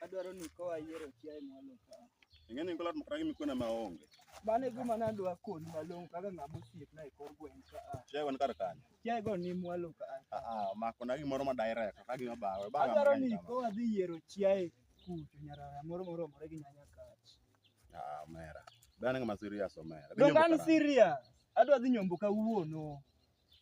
Adwaro ni kowa yiero chiaye mwalo ka. Ing'e ni kolat makata gimikuwe na maonge. Mano e gima nadwa koni malong'o kaka ng'ama osiepna e kor gweng' ka a. Chiaye wan kar kanyo. Chiaye go ni mwalo ka a. Ah, ah, omako na gimoro ma direct, ok agima bawe. Bawe Adwaro amang'e ni kama. kowa dhi yiero chiaye kucho nyarara moro moromore gi nyanya kach. Ah, omera. Be an ng'ama serious omera. Be Donge nyombo an karang'o? serious? Adwa dhi nyombo kawuono.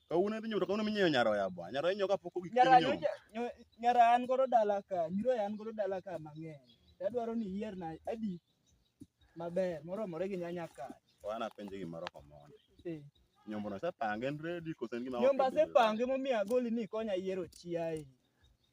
Kawuono idhi nyomto kawuono minyiewo nyaroya bwa. Nyaroya inyiewo kapok ogik nyara inyomto. nyocha nyo- nyara an godo dala ka nyiro an godo dala ka mang'eny tadwaro ni iyier na adi maber moromore gi nyanya ka Wana penje gimoro komondo. Eh, Nyombo no sepange en ready koso en gima nyomba ok ready? sepange momiyo agoli ni konya yiero chiaye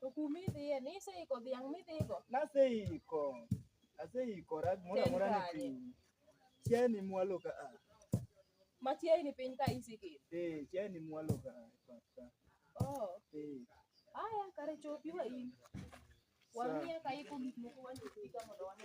To kuma idhiye ni iseiko dhiang' midhigo. Naseiko. Aseikora gimoro Chen amora ni kanye? piny. Chiani mwalo ka a. Machiegni piny ka isikir. Eh, chiani mwalo ka a. Papa. Oh. Eh. Aya kare chopi wa in. Wang'iya ka iko gik moko wandik mondo wane.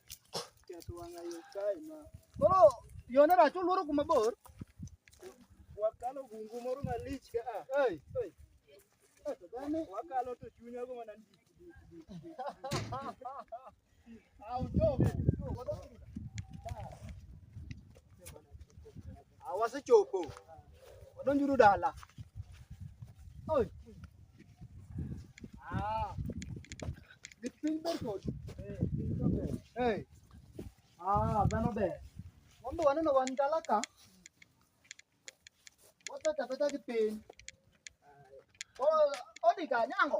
Koro yone rach oluoro kuma bor. Wakalo bungu moro malich ka a. Ei, ei. Eh, to dhani, Wakalo to chunya go mana ndik ndik ndik. ah, uchovu. Ah, wasechopo. Wadonjuru dala. Oi. Ah. Gik piny ber kodu. Eh, piny to ber. Eh. Ah, dhano ber. Wan be waneno wan dala ka. Wapeta peta gi piny. Oh, odi ka nyango.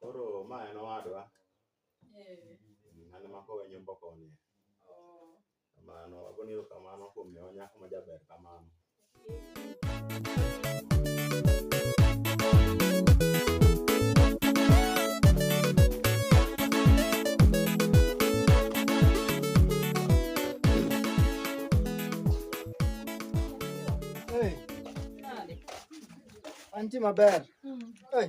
Koro ma en owadwa. Eh. Mane ma kowe nyombo koni. Oh. Kamano, agoni kamano kuom miyo nyako ma jaber kamano. Hey. Anti maber. Mm. Hey.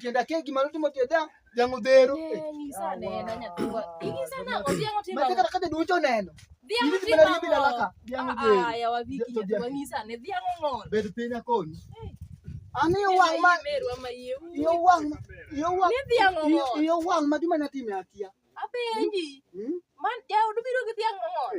tienda kegi malo timo tieda dhiang' dhero matekata kade duoncho neno bed piny akoni an iyo wang' ma iyo wang' iyo wang' iyo wang' ma gima natime akia apenji man jaodu biro gi dhiang' mang'ol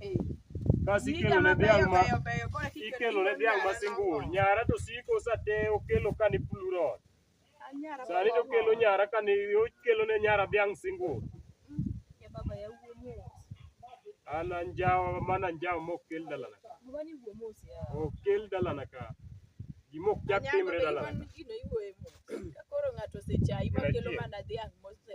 Eh, Kasi Niga ikelo ne mabeyo dhiang' ma beyo beyo koro kiketo ikelo ne dhiang' ma nyara simbul. moko. Nyara to siko sa te okelo ka ni plurot. Ah, nyara Sani to moko. okelo nyara ka ni okelo ne nyara dhiang' simbul. Ya baba ya wuo mos. An anjawo mana anjawo mok kel dalana. Baba ni wuo mos ya. Ok kel dalana ka. Gima ok chak Anyango timre be dalana. iwan ka. gino iwuoye mos. Ka koro ng'ato osechayi ma kelo Adier. mana dhiang' mose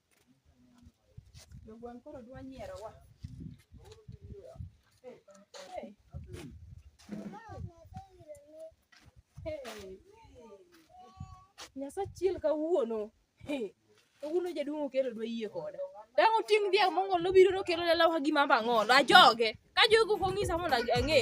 Jogwang' koro dwa nyierowa. Hey, hey. Hey. Nyasaye achiel kawuono. Hey. Kawuono jaduong' okelo dwa yie koda. Dang' oting' dhiang' mong'ol nobiro nokelo lela wa gima bang'olo. Ajoge. Ka jogo ok ong'isa mondo ang'e.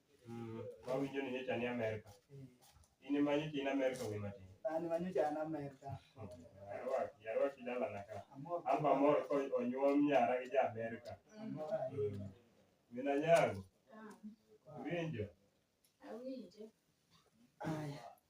Mm, ma winjo ni nyocha ni Amerika. In ema nyocha in Amerika wi matin. An ma nyocha an Amerka. Yarwaki, yarwaki dalana ka. Amor. An bamor ko onyuom nyara gi ja Amerika. Amor ahinya. Min anyangu, winjo. Aya.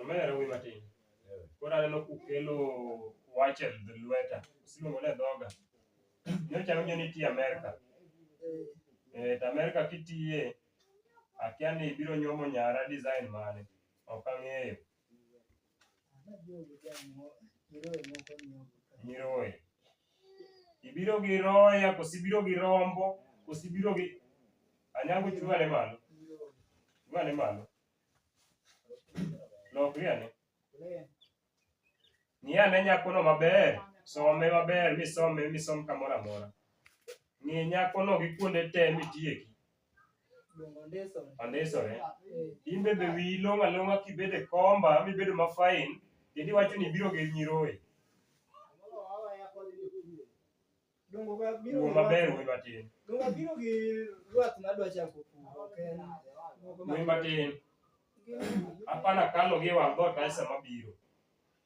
Omera wi matin. Koro aneno kukelo wach e lweta. Usiluongo ne dhoga. Nyocha awinjo ni itiyo Amerka. Eh, to Amerka kitiye, akia ni ibiro nyuomo nyara design mane. Ok ang'eyo. Nyiroye. Ibiro gi roya, kosi biro gi rombo, kosi biro gi anyango chuwa ne malo. Chuwa ne malo. Lokri ane. Ng'i ane nyakono maber, some maber, misome misom kamoro amora. Ng'i nyakono gi kuonde te mitieki. andisore in bende wiyi long' along'a kibedo e komba mibedo ma fine kendo iwacho ni ibiro gi nyiroye wuo maber wuo matin wuo matin apana kalo gi wang' dhoot ae sama biro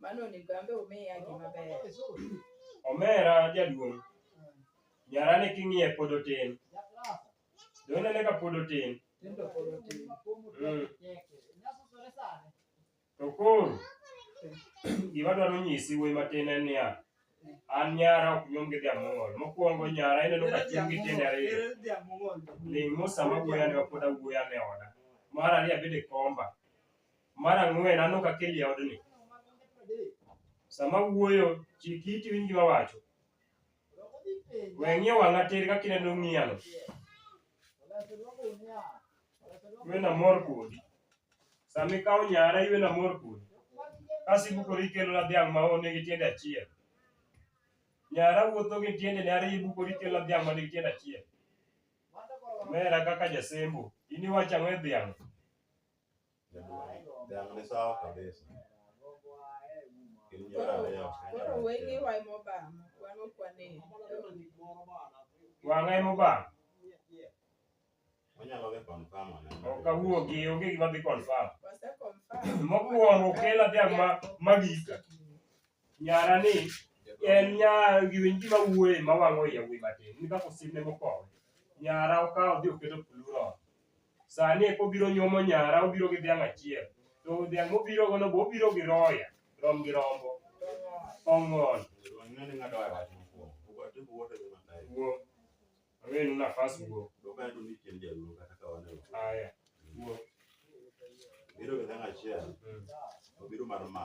Mano onego ambe umiya gima ber. Omera jaduong'. Nyara ni king'iye pod otin. Done ne ka pod otin. Tindo pod otin. Mm. To koro gima dwaro nyisi wuoyi matin en niya, an nyara ok nyuom gi dhiamong'ol. Mokwongo nyara ineno ka chieng gi tiende ariyo. Ling' mosama wuoyi ane ma pod awuoyi ane oda. Mar ariyo abede komba. Mar ang'wen an ok akeli e odni. Sama wuoyo, chik iti winj gima wacho. We ng'iyo wang'a tir kaka ineno ng'iyano. Iwe namor kodi. Sama ikawo nyara, iwe namor kodi. Kasi ibukori ikelona dhiang' ma one gi tiende achiel. Nyara wuotho gi tiendene ariyo ibukori ikelona dhiang' ma nigi tiende achiel. Omera kaka jasembo, in iwacho ang'o e dhiang'? Koro wenge wa ema obamo, wan ok wane. Wang'a ema obam. Ok awuogi, onge gima dhi confirm. Wase confirm. Mokwongo kela dhiang' ma magika. Nyara ni en nya giwinji ma wuoye ma wang'o iya wuoyi matin. Ni kaka osimne mokowe. Nyara okawo dhi oketo plural. sani eko obiro nyuomo nyara obiro gi dhiang' achiel to dhiang' mobiro gono bo obiro gi roya rom gi rombo ong'on wuo awenu nafas wuo aya wuo biro gi dhiang' achiel obiro mar ma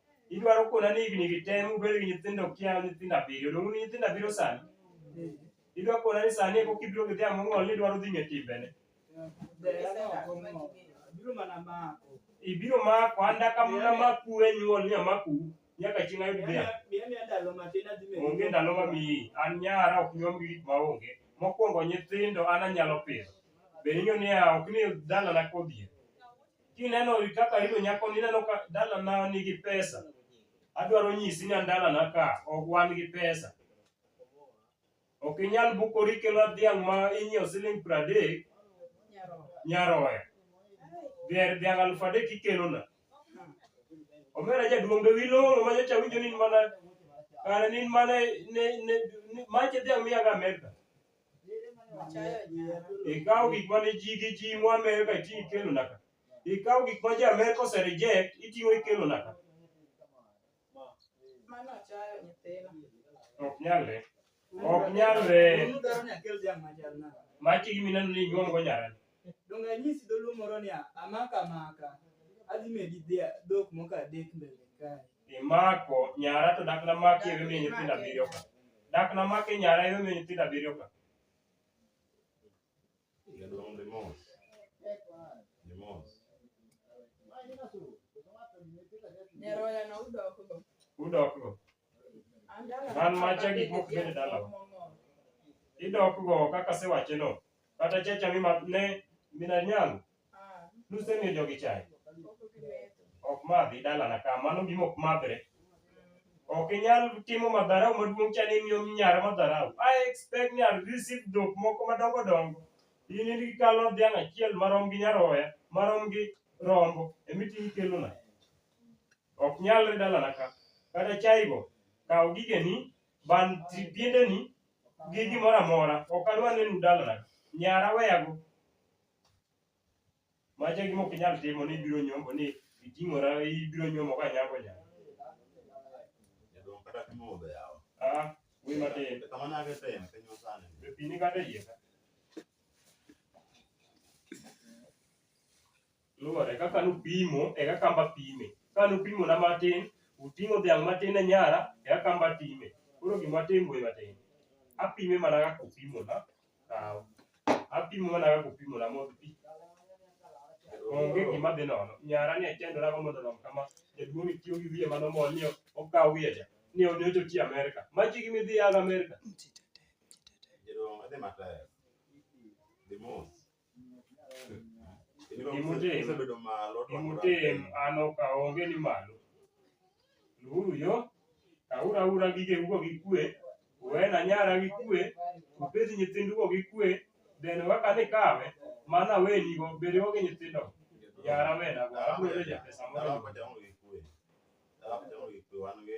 Idwaro kona ni higni gi te mubed gi nyithindo kia nyithindo abiriyo, dong' un nyithindo abiriyo sani? Idwa kona ni sani eko kibiro gi dhiang' mong'ol ni idwaro dhi ng'e timbene. Biro mana mako. Ibiro mako anda kamna maku e nyuol ni amaku nyaka chieng' ayud dhiang'. Miya miya ndalo matin adhi medo. Onge ndalo mamiyi, an nyara ok nyuom gi gik maonge. Mokwongo nyithindo an anyalo pidho. Be ing'eyo niya ok ni dalana kodhier. Kineno kaka arido nyako ni ineno ka dalana nigi pesa. Adwaro nyisi ni an dalana ka ok wan gi pesa. Ok inyal bukori kelo dhiang' ma inyiewo siling piero adek nyaroya. Dhier dhiang' alufu adek ikelona. Omera jaduong' be wilong'o ma nyocha awinjo ni in mana kare ni in mana ne ne ne mache dhiang' miyaga Amerka. Ikawo gik ma ne ji gi ji mo Amerka itiyo ikelo naka. Ikawo gik ma ji Amerka ose reject itiyo ikelo naka. Ok nyalre. Ok nyalre. Maki gi mineno ni inyuomgo nyarani. Donge anyisi dholuo moro ni amaka amaka, adhi medi dhia- dhok moko adek mbele kae. Imako nyara to dak namaki ero miyo nyithindo abiriyo ka. Dak namaki nyara ero miyo nyithindo abiriyo ka. Jaduong' Demos. Demos. Nyaroya no udokgo. Udokgo. Man macha gik mok bed e dalawa. Idok go kaka sewache no. Kata checha mi ma- ne mina nyalo. Nusemiyo jogi chai. Ok madhi dalana ka mano gima ok madhre. Ok inyal timo madharau maduong' cha ni imiyo nyara madharau. I expect ni I'll receive dhok moko madongo dongo. In in ikalo dhiang' achiel marom gi nyaroya, marom gi rombo, emiting' ikelona. Ok nyalre dalana ka. Kata chaigo, kaw gigeni, ban tri- piendeni gi gimoro amora. Ok adwar nenu dalana. Nyara weyago. Macho e gima ok inyal timo ni ibiro nyombo ni iting'ora ibiro nyomo ka nyako nya. Jaduong' kata pimo modho yawa. Ah, wuoyi matin. To kamano ake timo piny masani. Be pi ni kata e iye ka? luwore kaka nupimo e kaka amba pime ka nupimo na matin uting'o dhiang' matin e nyara e kaka amba time koro gima atim we matin apime mana kaka upimo na kaw apimo mana kaka upimo na modh pi onge gima dhi nono nyara ni achandora go mondo orom kama jaduong' itiyo gi wiye mano mol ni okaw wiye cha ni onyocho ti Amerika machi gi midhi yadh Amerika Jadong' adhi matek. Dhi mos. Gimutim. Osebedo malo. to Gimutim an ok aonge ni malo. Luwuru yo, kauru aura gigeugo gi kwe, uwena nyara gi kwe, upidh nyithindugo gi kwe, then waka ni kawe, mano awenigo, bedewo gi nyithindo. Nyara wenago, abiro reja pesa Dala moro. kocha onge gi kwe. Dala kocha onge gi kwe wan gi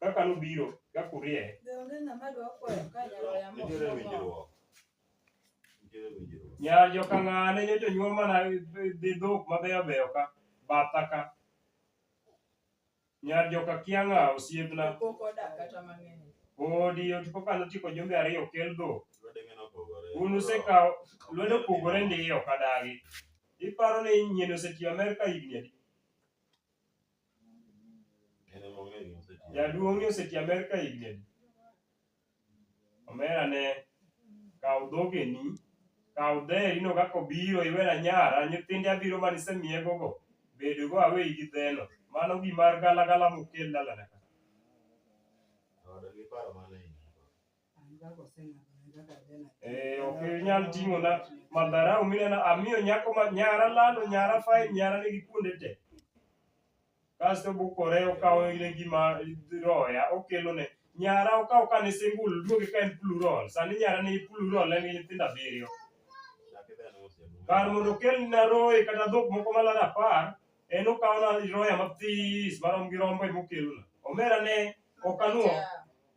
kaka nobiro ka kurie Be onge ng'ama dwa kwayo ka nyalo yamo Nitiere omo? winjruok. Nitiere winjruok. nyar joka ng'ane nyocha onyuol mana dhi dhok mabeyo beyo ka batha ka nyar joka kianga osiepna Pok odak kata mang'eny. odi oti koka nochiko jumbe ariyo kel dhok Lwete ng'eno opogore. un usekawo lwedo opogore ndiyo kadagi iparo ni nyien osetiyo amerka higni adi En ema ong'eyo gima osetiyo. Jaduong'ni oseti Amerka higni adi? Omera ne kaw dhogeni, kaw dheri no kaka obiro iwena nyara, nyithinde abiro mane isemiegogo, bedogo aweyi gi dheno. Mano gimar galagala mokel dalana ka. Oda gi paro mane in go. Eh, ok inyal ting'o na madharau mineno amiyo nyako ma nyara lalo nyara fai nyara nigi kuonde te kasto bukore okawo ile gima roya okelo ne nyara okawo ka ne singul duoge ka en plural sani nyara ni plural en gi nyithindo abiriyo kar mondo okel na roye kata dhok moko malaro apar en okawo na roya mathis marom gi rombo emokelona omera ne okanuo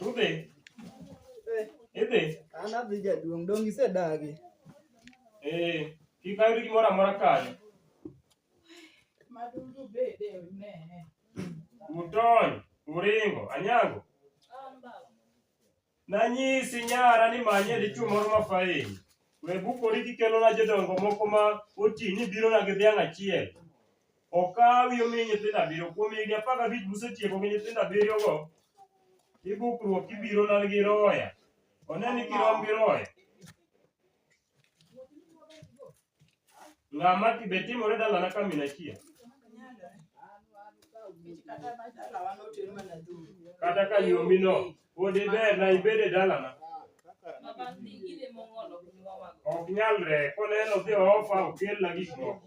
Udhi? Idhi? An adhi jaduong', dong' isedagi. Eh, kik ayud gimoro amora kanyo. Madudu bede ne. Utony, uringo, anyango. Nanyisi nyara ni manye dichwo moro ma fain. We bukori kikelona jodongo moko ma oti ni birona gi dhiang' achiel. Okawi omi nyithindo abiriyo. Kuom higni apar gabich musetieko gi nyithindo abiriyogo, ibukruok kibirona gi roya. One ni kirom gi roya. Ng'ama ti be timore dalana ka min achia. Kata ka nyomi no, pod iber na ibede dalana. Ok nyalre, koneno dhi ofa okelna gik moko.